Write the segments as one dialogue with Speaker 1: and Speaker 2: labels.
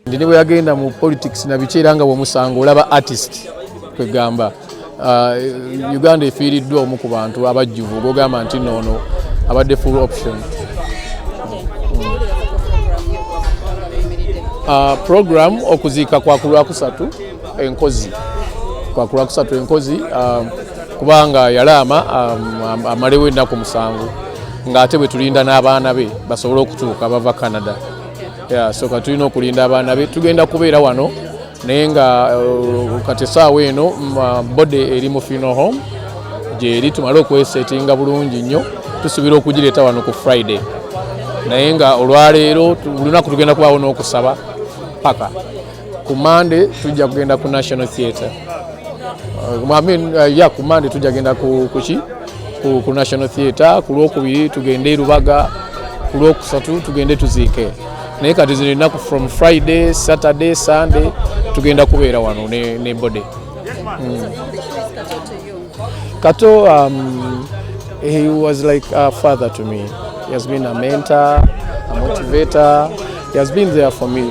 Speaker 1: ndi ne bwe yagenda mu politics na biki era nga bwomusango olaba artist kwegamba uh, uganda efiiriddwa omu ku bantu abajjuvu gogamba nti noono abadde full option uh, program okuziika kwakulwakusatu enkozi kwakulwakusatu enkozi um, kubanga yalaama um, amalewo ennaku musanvu ng'ate bwe tulinda n'abaana be basobole okutuuka bava canada soka tulina okulinda abaana be tugenda kubeera wano naye nga uh, kati esaawa eno mm, uh, bode eri mu fino home gyeri tumale okwesetinga bulungi nnyo tusuubira okugireeta wano ku friday naye nga olwaleero olunaku tugenda kubaawo n'okusaba paka ku mande tujja kugenda ku national theatre uh, I mean, uh, yeah, ku mande tujja kugenda ku, ku, ku, ku national theatre ku lwokubiri tugende lubaga ku lwokusatu tugende tuziike naye kati zino ennaku from friday saturday sunday tugenda kubeera wano ne, ne body mm. kato um, he was like a father to me he has been a mentor a motivator he has been there for me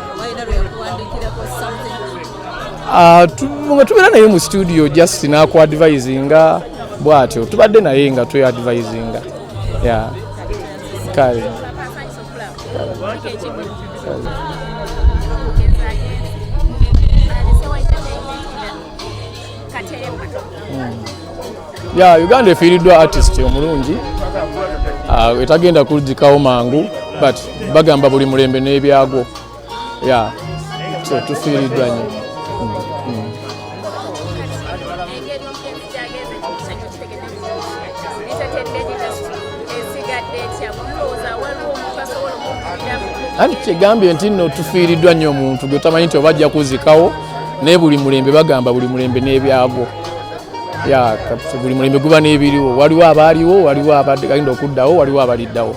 Speaker 1: Ah, nga tubeera naye mu studio just nakuadvisinga bwatyo tubadde naye nga tweadvisinga ya kale ya uganda efiiriddwa artist omulungi ah, etagenda kujikawo mangu but bagamba buli mulembe n'ebyagwo ya so tufiiriddwa nyo mm, mm. anti kyegambye nti no tufiiriddwa nnyo omuntu gwe tamanyi nti oba ajja kuzikawo naye buli mulembe bagamba buli mulembe n'ebyagwo ya buli mulembe guba n'ebiriwo waliwo abaaliwo waliwo abagenda okuddawo waliwo abaliddawo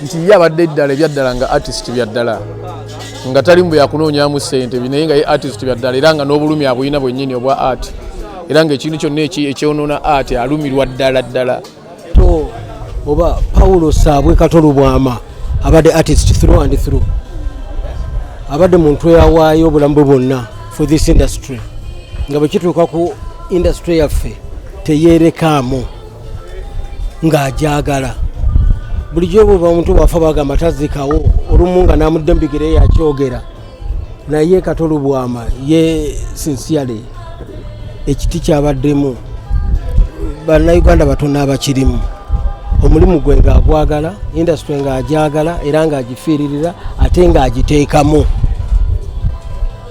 Speaker 1: nti ye abadde eddala ebyaddala nga artist byaddala nga tali mbu yakunoonyamu sente naye nga ye artist byaddala era nga n'obulumi abulina bwennyini obwa art era ngaekintu kyonna ekyonoona art alumirwa ddala ddala to
Speaker 2: oba paulo saabwe kato lubwama abadde artist through and through abadde muntu eyawaayo obulamu bwe bwonna for this industry nga bwe kituuka ku industry yaffe teyerekaamu ng'agyagala bulijjo bweba omuntu wafa bagamba tazikawo olumu nga namudde mubigere yakyogera naye katolubwama ye sincerely ekiti kyabaddemu bannayuganda batono abakirimu omulimu gwe ng'agwagala indasitule ng'agyagala era ng'agifiiririra ate ng'agiteekamu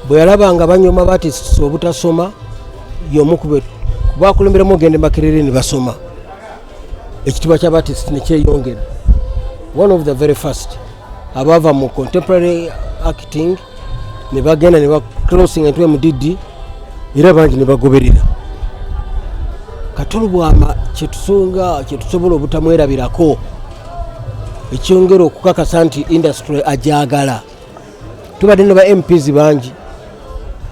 Speaker 2: bwe yalaba nga banyoma batisi obutasoma yomu kubakulemberamu ogende makerere ne basoma ekitibwa kya batist nekyeyongera one of the very first abaava mu contemporary acting ne bagenda ne baclosing entw mdd era bangi ne bagoberera katolubwama kyetusunga kyetusobola obutamwerabirako ekyongera okukakasa nti industry ajagala tubadde ne ba mps bangi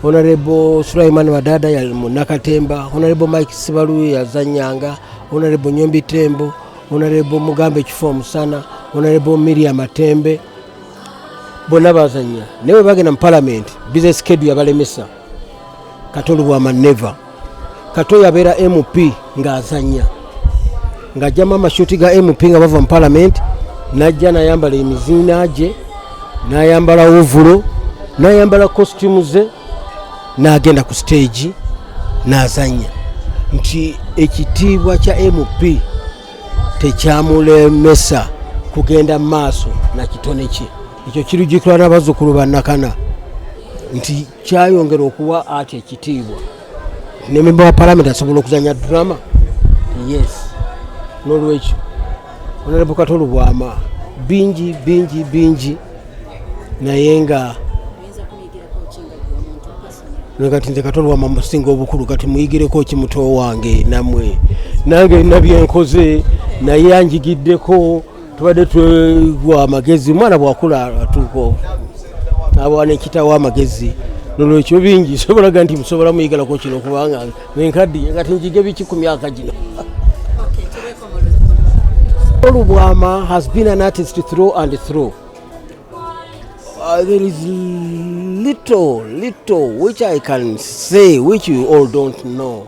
Speaker 2: honarebo sulaiman wadada yali munakatemba honarebo mike sibalu yazanyanga honarebo nyombi tembo honarebo mugamba ekifo omusana honarebo miria matembe bonna bazanya naye webagenda mu palamenti bizinesi kedu yabalemesa kato lubwama neva kato yabeera mp ng'azanya ng'ajjamu amashuti ga mp nga bava mu palamenti n'ajja nayambala emiziina gye n'ayambala ovulo n'ayambala kositimu ze n'agenda ku siteegi n'azanya nti ekitiibwa kya mp tekyamulemesa kugenda mu maaso na kitone kye ekyo kirujjukirwa n'abazzukulu ba nakana nti kyayongera okuwa ati ekitiibwa nememba wa palamenti asobola okuzanya drama yes n'olwekyo onalabukata olubwama bingi bingi bingi naye nga kati nze katolwama musinga obukulu kati muyigireko ki muto wange namwe nange nina byenkoze naye anjigiddeko tubadde twegwa amagezi omwana bwakula atuuko abawa nekitawo amagezi nolwekyo bingi sobolaga nti musobola muyigalako kino kubanga enkaddiye kati njige biki ku myaka gino olubwama has been an artist through and through uh, there is little little which i can say which you all don't know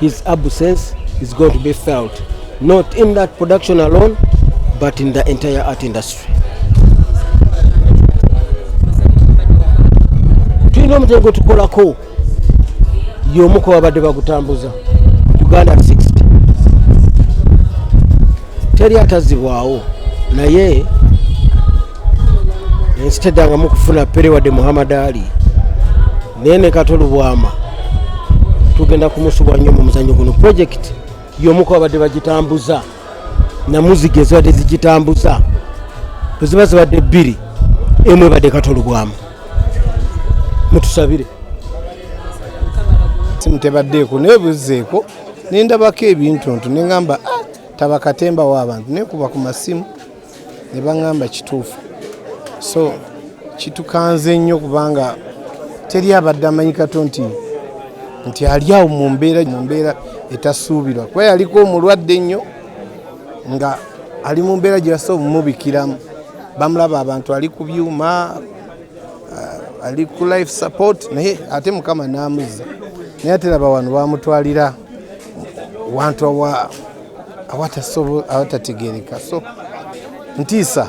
Speaker 2: His absence is going to be felt not in that production alone but in the entire art industry. Tulina omutego gwe tukolako y'omu ku babadde bagutambuza Uganda 60 teri atazibwawo naye ensi teddangamu kufuna pere wadde Muhammad Ali naye ne kato lubwama tugenda kumusubwa nnyo mu muzanyo guno projekiti y'omuku babadde bagitambuza namuziga ezibadde zigitambuza eziba zibadde bbiri emu ebadde kato lubwama mutusabire simu
Speaker 3: tebaddeeko naye buzzeeko nendabako ebintu ntu neŋamba ah, tabakatembawo abantu nekuba ku masimu ne baŋŋamba kituufu so kitukanze nnyo kubanga teri abadde amanyi kato nti nti ali awo mu mbeera mu mbeera etasuubirwa kuba yaliko omulwadde nnyo nga ali mu mbeera gye basobola omumubikiramu bamulaba abantu ali ku byuma uh, ali ku life support naye ate mukama n'amuzza naye ate laba wano bamutwalira wantu awa awatategeereka so ntiisa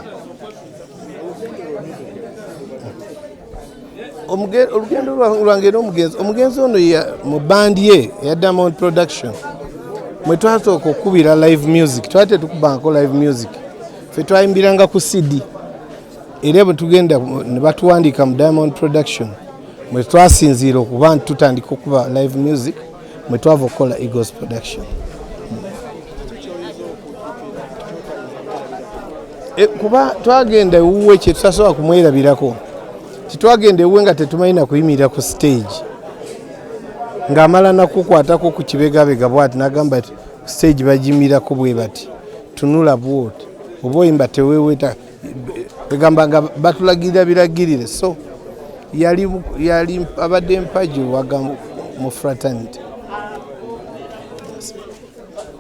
Speaker 3: olugendo lwange era omugenzi omugenzi ono mu bandi ye eya diamond production mwe twasooka okukubira live music twali tetukubanko live music fe twayimbiranga ku cd era bwe tugenda ne batuwandiika mu diamond production mwe twasinziira okuba nti tutandika okuba live music mwe twava okukola Eagles production e, kuba twagenda ewuwe kyetusasobola kumwerabirako titwagenda ewuwe nga tetumanyi nakuyimirira ku stage ng'amala nakukwatako ku kibegabega bwati nagamba ti stage bagimirako bwe bati tunula bwoti oba oyimba teweweta egamba nga batulagirira biragirire so yali yali abadde mpagi waga mu fraternity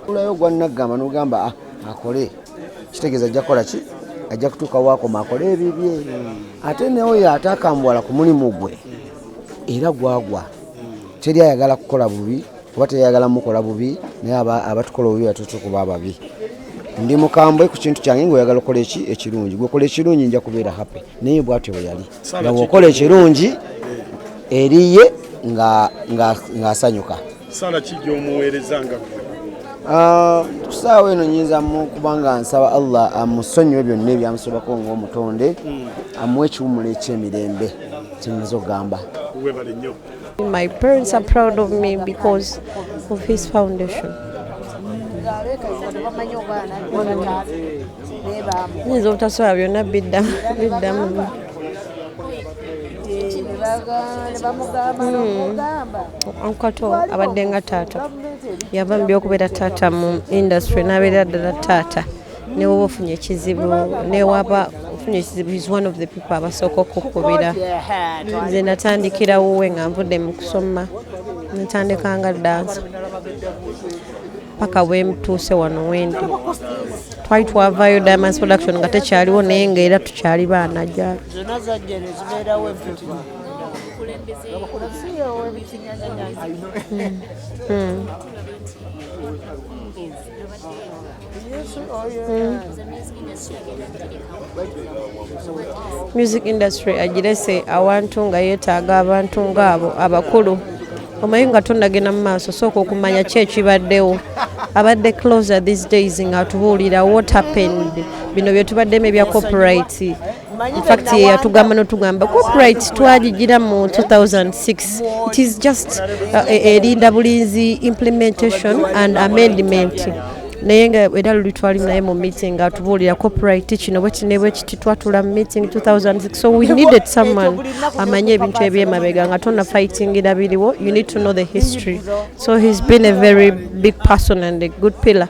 Speaker 4: ulayo gwannagamba nogamba ah, akole kitegeeza ajja kukola ki ajja kutuuka waakoma akole ebibye ate neoyo atakambwala ku mulimu gwe era gwagwa teri ayagala kukola bubi kuba teyagala mukola bubi naye abatukola obubi batutu kuba ababi ndi mukambwe ku kintu kyange ngaoyagala okola eki ekirungi gwekola ekirungi nja kubeera happy naye bwatyo bwe yali nga bwokola ekirungi eriye
Speaker 5: ng'asanyuka sala
Speaker 4: ki gyomuweereza
Speaker 5: nga ah,
Speaker 4: kusaawa eno nyinza kubanga nsaba allah amusonyiwe byonna ebyamusobako ngaomutonde hmm. amuwe ekiwumula ekyemirembe kyenyinza okugamba
Speaker 5: My parents are proud of me because of his foundation. Nyinza obutasobola byonna biddamu ankato hmm. abadde nga taata yava mu byokubeera taata mu industry n'abeera ddala taata newoba ofunye ekizibu newaba ofunye ekizibu is one of the people abasooka okukubira nze natandikira wuwe nga nvudde mu kusoma natandika nga dansa paka bwemutuuse wano wendi twali twavayo diamonds production nga tekyaliwo naye nga era tukyali baana gyali Mm. Mm. music industry agirese awantu nga yeetaaga abantu ngaabo abakulu omanyi nga tonnagenda mu maaso sooka okumanya ki ekibaddewo abadde closer these days nga atubuulira what happened bino byetubaddemu ebya copyright fact yatugamba notugamba copyright twagigira mu 2006 it is just uh, e, erinda bulinzi implementation and amendment naye nga era luli twali naye mu meeting atubuulira copyright kino bwekinebwe kiti twatula mu meeting 2006 so we needed someone amanye ebintu ebyemabega nga tona fightingira biriwo you need to know the history so he's been a very big person and a good pillar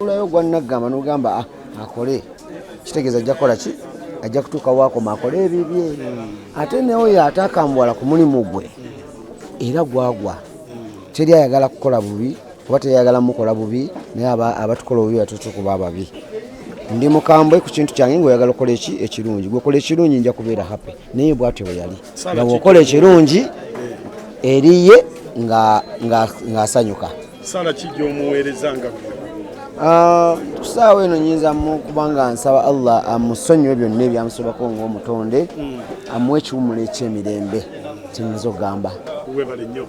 Speaker 4: olayo gwanaggamba nogamba ah, akole kitegeeza ajja kukola ki ajja kutuuka wakoma akole ebibye ate neoyo atakambuwala ku mulimu gwe era gwagwa teri ayagala kukola bubi oba teyayagala mukola bubi naye abatukola obubi batuusa okuba ababi ndi mukambwe ku kintu kyange ngaoyagala okola eki ekirungi gwekola ekirungi nja kubeera happy naye bwatyo bwe yali nga bwokola ekirungi eriye ng'asanyuka nga, nga sala kijja
Speaker 6: omuweereza nga ah, kusaawa
Speaker 4: eno nyinza kubanga nsaba allah amusonyiwe byonna ebyamusobako ngaomutonde hmm. amuwa ekiwumulo ekyemirembe kyenyinza okugamba